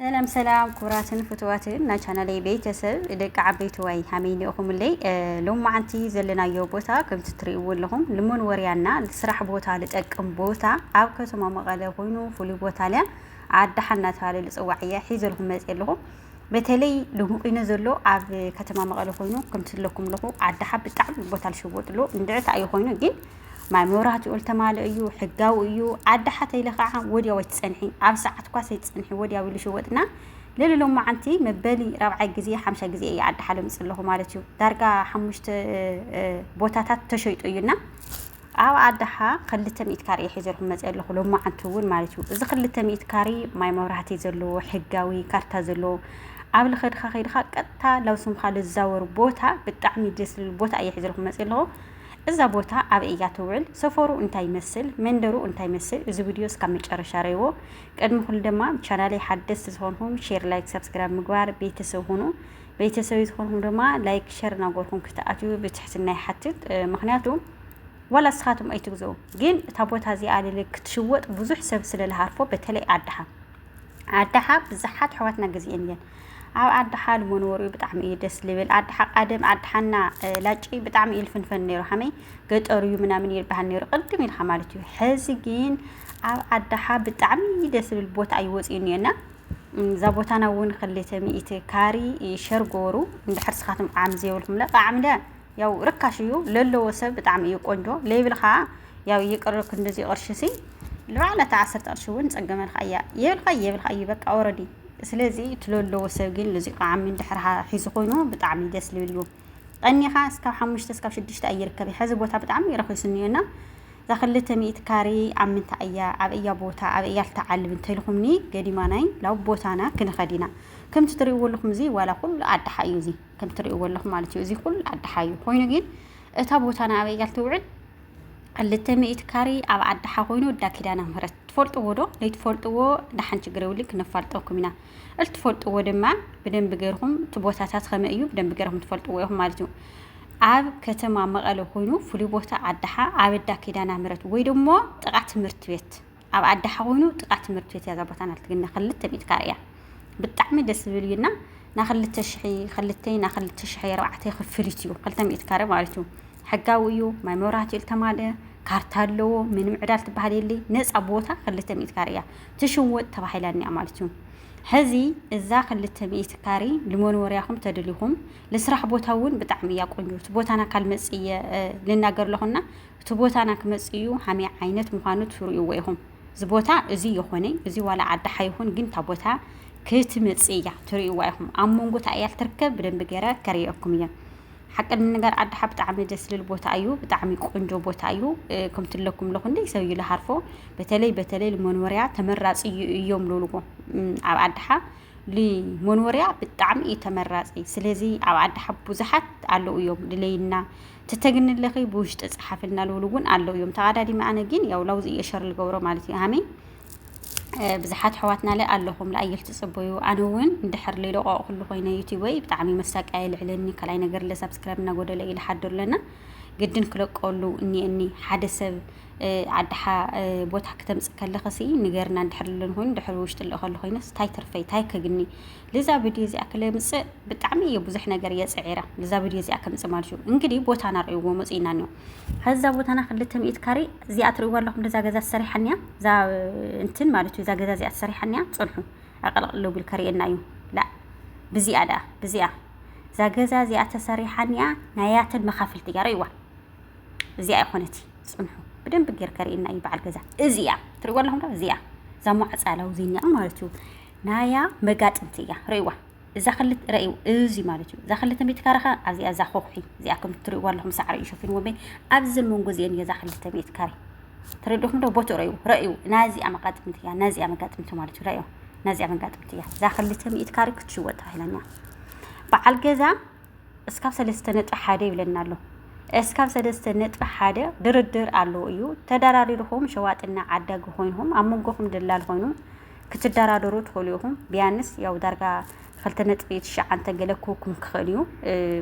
ሰላም ሰላም ኩቡራትን ፍቱዋትን ናይ ቻናለይ ቤተሰብ ደቂ ዓበይትዋይ ሃመይ ኒኦኹምለይ ሎማዓንቲ ዘለናዮ ቦታ ከምቲ ትሪእዎ ኣለኹም ንመንወርያና ስራሕ ቦታ ልጠቅም ቦታ ኣብ ከተማ መቐለ ኮይኑ ፍሉይ ቦታ ሊያ ዓዳሓ እናተባሃለ ልፅዋዕ እያ ሒዘልኹም መፅእ ኣለኹ በተለይ ልሙቂነ ዘሎ ኣብ ከተማ መቐለ ኮይኑ ከምቲ ለኩም ኣለኹ ዓዳሓ ብጣዕሚ ቦታ ልሽወጥሉ እንድዕታ እዩ ኮይኑ ግን ማይ መብራህቲኡ ልተማልእ እዩ ሕጋዊ እዩ ዓዲ ሓተ ኢለ ከዓ ወዲያው ኣይትፀንሒ ኣብ ሰዓት ኳስ ኣይትፀንሒ ወዲያው ኢሉ ሸወጥና ልዕሊ ሎማዓንቲ መበሊ ራብዓይ ግዜ ሓምሻይ ግዜ እየ ዓዲ ሓለ ምፅ ኣለኹ ማለት እዩ ዳርጋ ሓሙሽተ ቦታታት ተሸይጡ እዩና ኣብ ኣድሓ ክልተ ሚእት ካሬ ሒዘልኩም መፅእ ኣለኹ ሎማዓንቲ እውን ማለት እዩ እዚ ክልተ ሚእት ካሬ ማይ መብራህቲ ዘለዎ ሕጋዊ ካርታ ዘለዎ ኣብ ልኸድኻ ከይድኻ ቀጥታ ላብ ስምካ ልዛወር ቦታ ብጣዕሚ ደስ ዝብል ቦታ እየ ሒዘልኩም መፅእ ኣለኹ እዛ ቦታ ኣበይ እያ ትውዕል ሰፈሩ እንታይ ይመስል መንደሩ እንታይ ይመስል እዚ ቪድዮ እስካብ መጨረሻ ረይዎ ቅድሚ ኩሉ ድማ ቻናለይ ሓደስቲ ዝኾንኩም ሼር ላይክ ሰብስክራይብ ምግባር ቤተሰብ ሁኑ ቤተሰብ ዝኾንኩም ድማ ላይክ ሸር ናጎርኩም ክትኣትዩ ብትሕትና ይሓትት ምክንያቱ ዋላ እስኻትም ኣይትግዘው ግን እታ ቦታ እዚኣ ልል ክትሽወጥ ብዙሕ ሰብ ስለልሃርፎ በተለይ ዓድሓ ዓድሓ ብዙሓት ኣሕዋትና ግዜአን እየን ኣብ ኣዲ ሓል መኖርኡ ብጣዕሚ እዩ ደስ ልብል ኣዲ ሓቃደም ኣዲ ሓና ላጭ ብጣዕሚ እዩ ልፍንፈን ነይሩ ሓመይ ገጠሩ እዩ ምናምን ይልባሃል ነይሩ ቅድም ኢልካ ማለት እዩ ሕዚ ግን ኣብ ኣዳሓ ብጣዕሚ ደስ ዝብል ቦታ እዩ ወፂኡ እኒኦና እዛ ቦታና እውን ክልተ ሚእቲ ካሪ ሸር ጎሩ እንድሕር ስኻትኩም ቃዕሚ ዘይብልኩም ለ ቃዕሚ ለ ያው ርካሽ እዩ ለለዎ ሰብ ብጣዕሚ እዩ ቆንጆ ለይብል ከዓ ያው ይቅር ክንድዚ ቅርሺ ሲ ልባዕላ እታ ዓሰርተ ቅርሺ እውን ፀገመልካ እያ የብልካ እዩ የብልካ እዩ በቃ ወረዲ ስለዚ እቲ ለለዎ ሰብ ግን እዚ ቃዓሚ እንድሕር ሒዙ ኮይኑ ብጣዕሚ ደስ ልብል እዩ ቀኒኻ እስካብ ሓሙሽተ እስካብ ሽዱሽተ ኣይርከብ ሕዚ ቦታ ብጣዕሚ ረኺሱ እኒኦና እዛ ክልተ ሚእቲ ካሬ ኣብ ምንታይ እያ ኣብ እያ ቦታ ኣብ እያ ልትዓልብ እንተልኹምኒ ገዲማ ናይ ላብ ቦታና ክንኸድ ኢና ከምቲ ትሪእዎ ኣለኹም እዚ ዋላ ኩሉ ኣድሓ እዩ እዚ ከም ትርእይዎ ኣለኹም ማለት እዩ። እዚ ኩሉ ዓዲ ሓዩ ኮይኑ ግን እታ ቦታ ንኣበይ እያ ትውዕል? ክልተ ሚእቲ ካሬ ኣብ ዓዲ ሓ ኮይኑ እዳ ኪዳነ ምህረት ትፈልጥዎ ዶ? ለይትፈልጥዎ ደሓን ችግር የብሉን ክነፋልጠኩም ኢና። እልትፈልጥዎ ድማ ብደንቢ ገርኹም እቲ ቦታታት ከመይ እዩ ብደንቢ ገርኹም ትፈልጥዎ ኢኹም ማለት እዩ። ኣብ ከተማ መቐለ ኮይኑ ፍሉይ ቦታ ዓዲ ሓ ኣብ እዳ ኪዳነ ምህረት ወይ ደሞ ጥቓ ትምህርቲ ቤት ኣብ ኣዲ ሓዊኑ ጥቃ ትምህርት ቤት እያ ዛቦታ ናልቲ ግን ናክልተ ሚእቲ ካሬ እያ ብጣዕሚ ደስ ዝብል እዩ እና ናክልተ ሽሒ ክልተይ ናክልተ ሽሒ ኣርባዕተ ክፍሊት እዩ ክልተ ሚእቲ ካሬ ማለት እዩ ሕጋዊ እዩ ማይ መብራህቲ እዩ ዝተማልአ ካርታ ኣለዎ ምንም ዕዳ ትበሃል የለይ ነፃ ቦታ ክልተ ሚእቲ ካሬ እያ ትሽወጥ ተባሂላ እኒኣ ማለት እዩ ሕዚ እዛ ክልተ ሚእቲ ካሬ ንመንበሪያኹም ተድልኹም ልስራሕ ቦታ እውን ብጣዕሚ እያ ቆንጆ እቲ ቦታና ካልመፅ እየ ልናገር ኣለኹና እቲ ቦታና ክመጽእ እዩ ሃመይ ዓይነት ምዃኑ ትርእዎ ኢኹም እዚ ቦታ እዚ ይኾነ እዚ ዋላ ዓዲ ሓይኹን ግን እታ ቦታ ክትመጽእ እያ ትርእዋ ኢኹም ኣብ መንጎ እታ እያ ትርከብ ብደንቢ ገረ ከርእየኩም እየ ሓቂ ንነገር ዓዲ ሓ ብጣዕሚ ደስ ዝብል ቦታ እዩ ብጣዕሚ ቆንጆ ቦታ እዩ ከምቲ ለኩም ለኹ እንደ ሰብ እዩ ልሃርፎ በተለይ በተለይ ልመንወርያ ተመራጺ እዩ እዮም ልብልዎ ኣብ ዓዲ ሓ ንመንወርያ ብጣዕሚ እዩ ተመራፂ ስለዚ ኣብ ዓዲ ሓ ብዙሓት ኣለዉ እዮም ድለይና ተተግንለኺ ብውሽጢ ጸሓፊ እናልውሉ እውን ኣለው እዮም ተቓዳዲሚ ኣነ ግን ያው ላውዚ እየ ሸር ልገብሮ ማለት እዩ ሃመይ ብዙሓት ኣሕዋትና ለ ኣለኹም ለኣየል ትፅበዩ ኣነ እውን እንድሕር ለይለቋቑ ኩሉ ኮይነ ዩቲበይ ብጣዕሚ መሳቀያ ይልዕለኒ ካልኣይ ነገር ለ ሳብስክራይብ እናጎደለ እዩ ልሓድር ኣለና ግድን ክለቀሉ እኒአኒ ሓደ ሰብ ዓድሓ ቦታ ክተምፅ ከለኸሲ ንገርና እንድሕር ለን ኮይኑ ድሕሪ ውሽጢ ልእኸሉ ኮይነስ ታይ ትርፈይ ታይ ከግኒ ልዛ ቪድዮ እዚኣ ክለምፅእ ብጣዕሚ እየ ብዙሕ ነገር እየ ፅዒረ ልዛ ቪድዮ እዚኣ ከምፅእ ማለት እዩ እንግዲህ ቦታና ርእይዎ መፅእና እኒኦ ከዛ ቦታና ክልተ ሚእት ካሬ እዚኣ ትርእይዋ ኣለኹም እዛ ገዛ ተሰሪሓኒያ እዛ እንትን ማለት እዩ እዛ ገዛ እዚኣ ተሰሪሓኒያ ፅንሑ ኣቀልቅሎ ቢል ከርእየና እዩ ላ ብዚኣ ደኣ ብዚኣ እዛ ገዛ እዚኣ ተሰሪሓኒያ ናያተን መኻፍልቲ እያ ርእይዋ እዚኣ ይኾነት ፅንሑ ብደንብ ጌር ከርእየና እዩ በዓል ገዛ እዚኣ ትርእይዋ ኣለኹም እዚኣ እዛ ሟዕፃ ላውዚኒያ ማለት እዩ ናያ መጋጥምቲ እያ ርእዋ እዛ ክልተ ረእዩ እዚ ማለት እዩ እዛ ክልተ ሚእቲ ካሬ ከ ኣብዚኣ እዛ ኮኹሒ እዚኣ ከም እትርእይዋ ኣለኹም ሳዕሪ እዩ ሸፊንዎ እምበይ ኣብዚ መንጎ እዚአን እያ እዛ ክልተ ሚእቲ ካሬ ተረድኹም ዶ ቦትኡ ረእዩ ረእዩ ናዚኣ መጋጥምቲ እያ ናዚኣ መጋጥምቲ ማለት እዩ ረእዩ ናዚኣ መጋጥምቲ እያ እዛ ክልተ ሚእቲ ካሬ ክትሽወጥ ተባሂላኛ በዓል ገዛ እስካብ ሰለስተ ነጥቢ ሓደ ይብለና ኣሎ። እስካብ ሰለስተ ነጥቢ ሓደ ድርድር ኣለዎ እዩ። ተደራዲርኹም ሸዋጥና ዓዳጊ ኮይንኹም ኣብ መንጎኹም ደላል ኮይኑ ክትደራደሩ ትኽእሉ ኢኹም። ቢያንስ ያው ዳርጋ ክልተ ነጥቢ ትሽዓንተ ገለ ክውኩም ክኽእል እዩ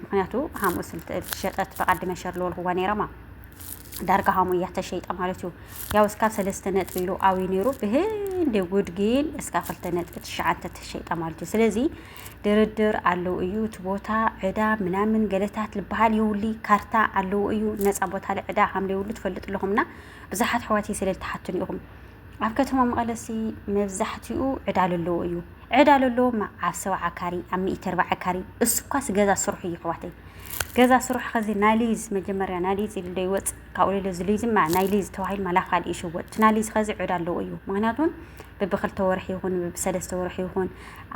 ምክንያቱ ሃምኡ ዝተሸጠት ብቓዲ መሸር ልወልክዋ ነይረማ ዳርጋ ሃሙ እያ ተሸይጣ ማለት እዩ ያው እስካብ ሰለስተ ነጥቢ ኢሉ ኣውዩ ነይሩ ብህንዲ ጉድ ግን እስካብ ክልተ ነጥቢ ትሽዓንተ ተሸይጣ ማለት እዩ ስለዚ ድርድር ኣለው እዩ እቲ ቦታ ዕዳ ምናምን ገለታት ልበሃል ይውሊ ካርታ ኣለው እዩ ነፃ ቦታ ዕዳ ከም ዘይብሉ ትፈልጡ ኣለኹምና ብዙሓት ኣሕዋት ስለ ዝተሓቱን ኢኹም ኣብ ከተማ መቐለሲ መብዛሕትኡ ዕዳ ለለዎ እዩ ዕዳ ለለዎ ኣብ ሰብዓ ካሪ ኣብ ሚእቲ ኣርባዓ ካሪ እሱ እኳስ ገዛ ስርሑ እዩ ኣሕዋተይ ገዛ ስርሑ ከዚ ናሊዝ መጀመርያ ናሊዝ ኢሉ ዶ ይወፅ ካብኡ ሌለ እዚ ሊዝ እማ ናይ ሊዝ ተባሂሉ ማላ ካልእ ይሽወጥ እቲ ናይ ሊዝ ኸዚ ዕዳ ኣለዎ እዩ ምክንያቱ ብብክልተ ወርሒ ይኹን ብሰለስተ ወርሒ ይኹን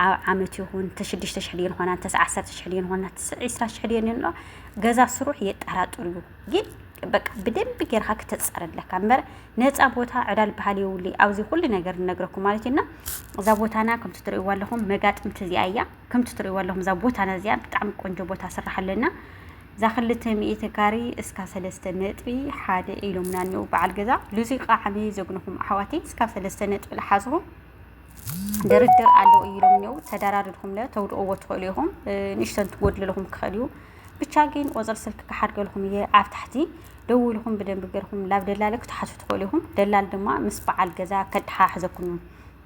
ኣብ ዓመት ይኹን ተሽዱሽተ ሽሕ ድየን ኾና እንተስ ዓሰርተ ሽሕ ድየን ኾና ትስዕ ዒስራ ሽሕ ድየን ይኖ ገዛ ስሩሕ የጠራጥር እዩ ግን በቃ ብደንብ ጌርካ ክተፃረ ኣለካ እምበር ነፃ ቦታ ዕዳ ልበሃል የብሉ ኣብዚ ኩሉ ነገር ንነግረኩም ማለት እዩና እዛ ቦታና ከምቲ ትርእይዋ ኣለኹም መጋጥምቲ እዚኣ እያ ከምቲ ትርእይዋ ኣለኹም እዛ ቦታና እዚኣ ብጣዕሚ ቆንጆ ቦታ ስራሕ ኣለና እዛ ክልተ ሚእቲ ካሪ እስካብ ሰለስተ ነጥቢ ሓደ ኢሎምና እኒው በዓል ገዛ ልዙይ ቃዕሚ ዘግንኹም ኣሕዋተይ እስካብ ሰለስተ ነጥቢ ልሓዝኹም ድርድር ኣለው ኢሎም እኒው ተደራድርኩም ለ ተውድቕዎ ትኽእሉ ኢኹም ንእሽተን ትጎድልልኹም ክኽእል እዩ ብቻ ግን ቁፅሪ ስልክ ክሓድገልኹም እየ ኣብ ታሕቲ ደውልኹም ብደንብ ገርኹም ላብ ደላለ ክትሓቱ ትኽእሉ ኢኹም ደላል ድማ ምስ በዓል ገዛ ከድሓሕዘኩም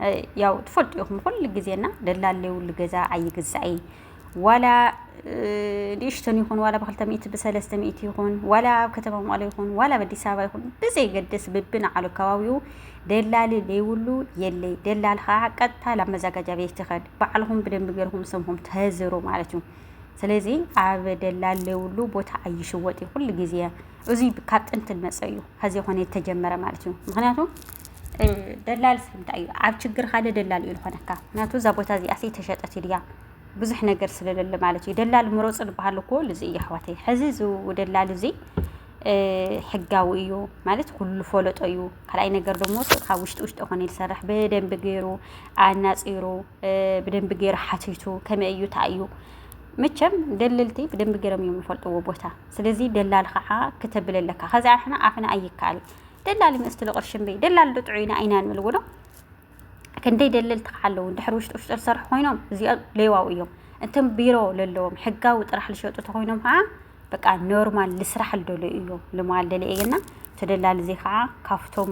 እዩ ያው ትፈልጡ ኢኹም ኩሉ ግዜና ደላል ለይብሉ ገዛ ኣይግዛእ እዩ ዋላ ንእሽተን ይኹን ዋላ ብክልተ ሚእቲ ብሰለስተ ሚእቲ ይኹን ዋላ ኣብ ከተማ መቐለ ይኹን ዋላ ኣብ ኣዲስ ኣበባ ይኹን ብዘይገድስ ብብንዓሉ ከባቢኡ ደላሊ ዘይብሉ የለይ። ደላል ከዓ ቀጥታ ናብ መዘጋጃ ቤት ይኸድ ባዕልኹም ብደንብ ገርኹም ስምኹም ተህዝሩ ማለት እዩ። ስለዚ ኣብ ደላል ዘይብሉ ቦታ ኣይሽወጥ እዩ ኩሉ ግዜ እዚ ካብ ጥንቲ ዝመፀ እዩ። ከዚ ኮነ የተጀመረ ማለት እዩ ምክንያቱ ደላልስ እንታይ እዩ ኣብ ችግር ሓደ ደላል እዩ ዝኾነካ ምክንያቱ እዛ ቦታ እዚኣሲ ተሸጠት ድያ ብዙሕ ነገር ስለለለ ማለት እዩ ደላል ምሮፅ ንበሃል እኮ ልዚ እዩ ኣሕዋተይ ሕዚ እዚ ደላል እዚ ሕጋዊ እዩ ማለት ኩሉ ፈለጦ እዩ ካልኣይ ነገር ደሞ ካብ ውሽጢ ውሽጢ ኮነ ዝሰርሕ ብደንቢ ገይሩ ኣናፂሩ ብደንቢ ገይሩ ሓቲቱ ከመይ እዩ እንታይ እዩ መቸም ደለልቲ ብደንቢ ገይሮም እዮም ዝፈልጥዎ ቦታ ስለዚ ደላል ከዓ ክተብለለካ ከዚ ኣሕና ኣፍና ኣይከኣል ደላሊ መስትሉ ቅርሺ እምበይ ደላሊ ዶ ጥዑይና ኢና ንብል ውሎ ክንደይ ደለልቲ ከዓ ኣለዉ ድሕሪ ውሽጢ ውሽጢ ዝሰርሑ ኮይኖም እዚኦም ሌዋው እዮም እቶም ቢሮ ለለዎም ሕጋዊ ጥራሕ ዝሸጡ ተኮይኖም ከዓ በቃ ኖርማል ልስራሕ ልደሉ እዩ ልማል ደሊ እየና ተደላሊ እዚ ከዓ ካብቶም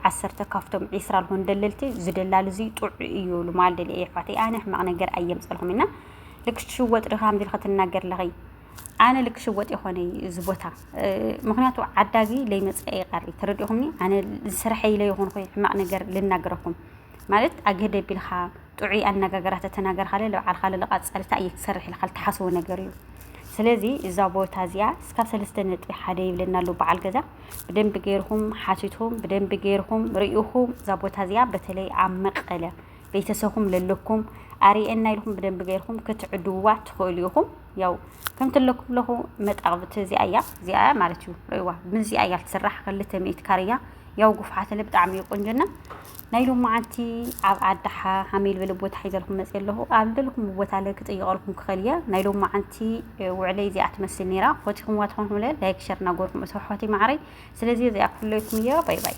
ዓሰርተ ካብቶም ዒስራ ልኾኑ ደለልቲ ዝደላሊ እዚ ጥዑ እዩ ልማል ደሊ እየ ኣሕዋተይ ኣነ ሕማቕ ነገር ኣየምፀልኹም እና ልክ ሽወጥ ድኻ ንቢልካ ትናገር ለኸይ ኣነ ል ክሽወጥ የኾነይ እዚ ቦታ ምክንያቱ ዓዳጊ ለይመፀኣ ይቀሪ ተረዲእኹምኒ ኣነ ዝስርሐይ ለይኾንኹ ሕማቅ ነገር ልናገረኩም ማለት ኣገደ ቢልኻ ጥዑይ ኣነጋገራ ተተናገርካለ ልብዓልኻ ልልቃፀልታ እየ ክሰርሕ ኢልካ ልትሓስቦ ነገር እዩ ስለዚ እዛ ቦታ እዚኣ እስካብ ሰለስተ ነጥቢ ሓደ ይብለና ኣሎ በዓል ገዛ ብደንቢ ገይርኹም ሓቲትኩም ብደንቢ ገይርኹም ርኢኹም እዛ ቦታ እዚኣ በተለይ ኣብ መቀለ ቤተሰኩም ለለኩም ኣርኤና ኢልኩም ብደንቢ ገይርኩም ክትዕድውዋ ትኽእሉ ኢኹም ያው ከምቲ ኣለኩም ለኹ መጣቕብቲ እዚኣ እያ እዚኣ እያ ማለት እዩ ርእዋ ምዚኣ እያ ትስራሕ ክልተ ሚእት ካርያ ያው ጉፍሓትለ ብጣዕሚ እዩ ቁንጅና ናይ ሎማዓንቲ ኣብ ዓዳሓ ሃመል በለ ቦታ ሒዘልኩም መፅ ኣለኹ ኣብ ደልኩም ቦታ ለ ክጥይቐልኩም ክኸል እያ ናይ ሎማዓንቲ ውዕለይ እዚኣ ትመስል ነይራ ኾቲኹምዋ ትኾንኩም ለ ላይክ ሸር እናጎርኩም እሰ ሖቲ ማዕረይ ስለዚ እዚኣ ክፍለይኩም እያ ባይ ባይ